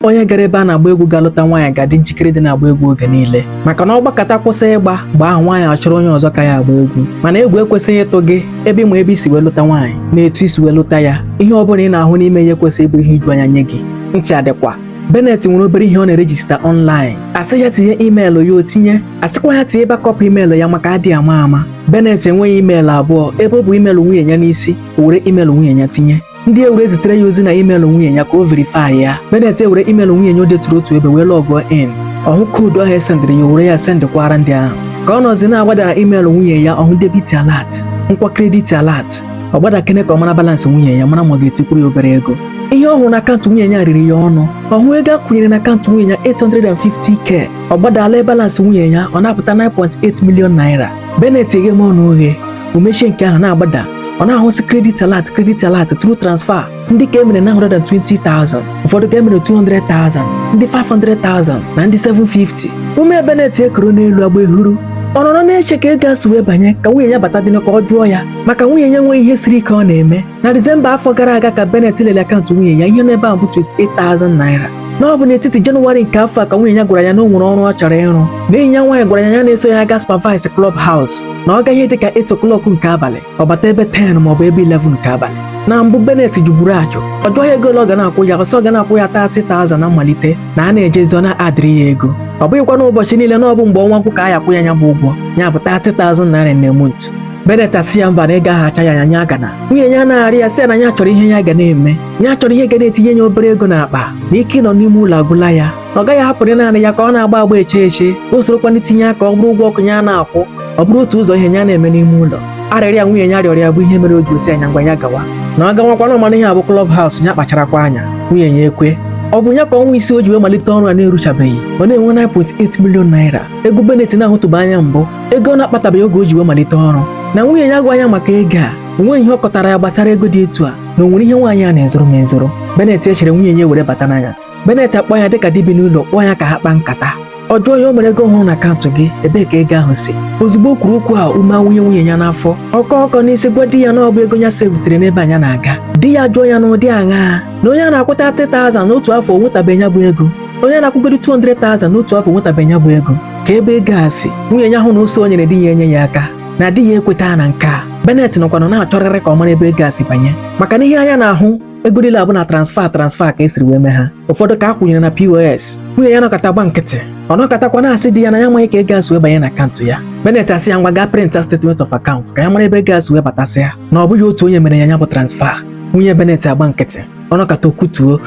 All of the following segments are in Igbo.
onye gara ebe a na-agba egwu gaa lụta nwaanyị ga-adị njikere ịdị na-agba egwu oge niile maka na ọ gbakata kwụsị ịgba egwu ahụ nwaanyị achọrọ onye ọzọ ka ya agba egwu mana egwu ekwesịghị ịtụ gị ebe ị ma ebe i si wee lụta nwaanyị na etu i si wee lụta ya ihe ọ bụla ị na-ahụ n'ime ya ekwesịghị ịbụ ihe iju anya nye gị ntị adịkwa Bennett nwere obere ihe ọ na-erejista ọnlaịn a sị ya tinye imeelụ ya o tinye a sịkwa ya tinye bakọpụ imeelụ ya maka adị ama ama Bennett enweghị imeelụ abụọ ebe o bu imeelụ nwunye ya n'isi o were imeelụ nwunye ya tinye ndị ewere zitere ya ozi na imeelụ nwunye ya ka o verify ya Bennett ewere imeelụ nwunye ya o deturu otu ebe wee lọgụọ in ọ hụ koodu ahụ e sendịrị ya were ya sendịkwara ndị ahụ ka ọ nọzi na-agbada na imeelụ nwunye ya ọ hụ debit alert nakwa credit alert ọ gbadakene ka ọ mara balansị nwunye ya mara ma ọ ga-etikwuru ya obere ego ihe ọ hụrụ na akaụntụ nwunye ya riri ya ọnụ ọ hụ ego a kwụnyere na akaụntụ nwunye ya 850k ọ gbadaa lee balansị nwunye ya ọ na-apụta 9.8 million naira Bennett eghe m ọnụ oghe o mechie nke ahụ na-agbada ọ na-ahụsị kredit alat kredit alat tru transfa ndị ka e mere 920,000 ụfọdụ ka e mere 200,000 ndị 500,000 na ndị 750 ume Bennett ekoro n'elu agba ehuru ọ nọrọ na-eche ka ego a si wee banye ka nwunye ya bata dị ka ọ jụọ ya maka nwunye ya enweghị ihe siri ike ọ na-eme na disemba afọ gara aga ka Bennett lele akaụntụ nwunye ya ihe n'ebe ahụ bụ 28,000 naira na ọ bụ n'etiti jenụwarị nke afọ a ka nwunye ya gwara ya na o nwere ọrụ ọ chọrọ ịrụ na enyi ya nwaanyị gwara ya ya na-eso ya aga supervise club house na ọ gaa ihe dị ka 8 o'clock nke abalị ọ bata ebe 10 ma ọ bụ ebe 11 nke abalị na mbụ Bennett jụburu ajụ ọ jụọ ya ego ole ọ ga na-akwụ ya ọ sị ọ ga na-akwụ ya 30,000 na mmalite na a na-ejezi ọ na-adịrị ya ego ọ bụghịkwa n'ụbọchị niile na ọ bụ mgbe ọnwa gwụ ka a ya-akwụ ya ya bụ ụgwọ ya bụ 30,000 naira na month Bennett asị ya mba na ego ahụ acha ya anya nya agana nwunye ya na-arịọ ya sị ya na ya chọrọ ihe ya ga na-eme ya chọrọ ihe ga na-etinye ya obere ego n'akpa na ike ịnọ n'ime ụlọ agwụla ya na ọ gaghị ahapụrị naanị ya ka ọ na-agba agba eche eche o sorokwa n'itinye aka ọ bụrụ ụgwọ ọkụ ya na-akwụ ọ bụrụ otu ụzọ ihe ya na-eme n'ime ụlọ arịrịọ a nwunye ya rịọrọ ya bụ ihe mere o ji sị ya ngwa ya gawa na ọ gawakwanụ ọ mana ihe a bụ klọb haus ya kpacharakwa anya nwunye ya ekwe ọ bụ ya ka ọnwa isii o ji wee malite ọrụ a na-eruchabeghị ọ na-enwe 9.8 million naira ego Bennett na-ahụtụbeghị anya mbụ ego ọ na-akpatabeghị oge o ji wee malite ọrụ na nwunye ya agwa ya maka ego a o nweghị ihe ọ kọtara ya gbasara ego dị etu a na o nwere ihe nwaanyị a na-ezoro m ezoro Bennett echere nwunye ya were bata n'anyasị Bennett akpọ ya dịka di bi n'ụlọ kpọọ ya ka ha kpaa nkata ọ jụọ ya o nwere ego ọ hụrụ na akaụntụ gị ebee ka ego ahụ si ozugbo o kwuru okwu a ume awụnye nwunye ya n'afọ ọ kọọ ọkọ n'isi gwa di ya na ọ bụ ego ya sevutere n'ebe a ya na-aga di ya jụọ ya na ụdị aṅaa na onye a na-akwụta 30,000 n'otu afọ o nwetabeghị ya bụ ego onye a na-akwụgodi 200,000 n'otu afọ enwetabeghị ya bụ ego kee ebe ego a si nwunye ya hụ na ụsa o nyere di ya enye ya aka na di ya ekweta na nke a Bennett nọkwanụ na-achọrịrị ka ọ mara ebe ego a si banye maka na ihe anya na-ahụ ego niile a bụ na transfa transfa ka e siri wee mee ha ụfọdụ ka a kwụnyere na POS nwunye ya nọkata gba nkịtị ọ nọkatakwa na-asị di ya na ya amaghị ka ego a si wee banye na akaụntụ ya Bennett asị ya ngwa gaa prịnta statement of account ka ya mara ebe ego a si wee batasịa na ọ bụghị otu onye mere ya ya bụ transfa nwunye Bennett agba nkịtị ọ nọkata o kwutuo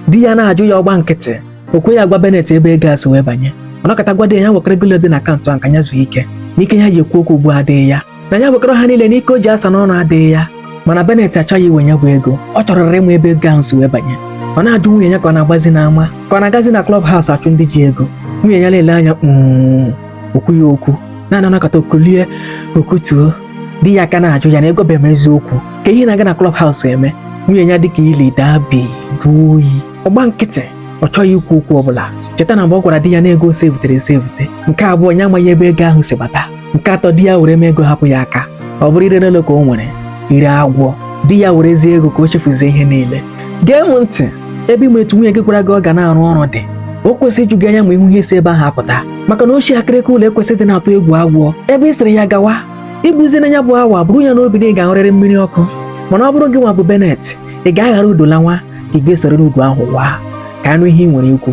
di ya na-ajụ ya ọ gba nkịtị o kweghị agwa Benet ebe ego a si wee banye ọ nọkata gwa di ya wekọrọ ego dị na akaụntụ a ka ya zuo ike n'ike ya ji ekwu okwu ugbu a adịghị ya na ya wekọrọ ha niile n'ike o ji asa n'ọnụ adịghị ya mana Benet achọghị iwe ya bụ ego ọ chọrọ ịma ebe ego ahụ si wee banye ọ na-ajụ nwunye ya ka ọ na-agbazi n'ama ka ọ na-agazi na klọb haus achụ ndị ji ego nwunye ya na-ele anya mm, o kwughị okwu na-anọkata o kulie o kutuo di ya a ka na-ajụ ya na ị gwabeghị m eziokwu ka ihe ị na-aga na klọb haus eme nwunye ya dịka ili daa bi jụọ oyi ọ gba nkịtị ọ chọghị ikwu okwu ọbụla cheta na mgbe ọ gwara di ya na ego sevụtere esevụte nke abụọ ya amaghị ebe ego ahụ si bata nke atọ di ya were mee ego hapụ ya aka ọ bụrụ ire n'ụlọ ka o nwere ire agwọ di ya werezie ego ka o chefuzie ihe niile gee m ntị ebe ị ma etu nwunye gị gwara gị ọ ga na-arụ ọrụ dị o kwesịrị iju gị anya ma ị hụ ihe si ebe ahụ apụta maka na ọchị akịrịka ụlọ kwesịrị ịdị na-atụ egwu agwọ ebe ị sịrị ya gawa ị bụzi na ya bụ awa buru ya n'obi na ị ga-ahụrịrị mmiri ọkụ mana ọ bụrụ gị nwa bụ benet ị ga-aghara udo la nwa ka ị ga-esorịrị udo ahụ waa ka a nụ ihe ị nwere ikwu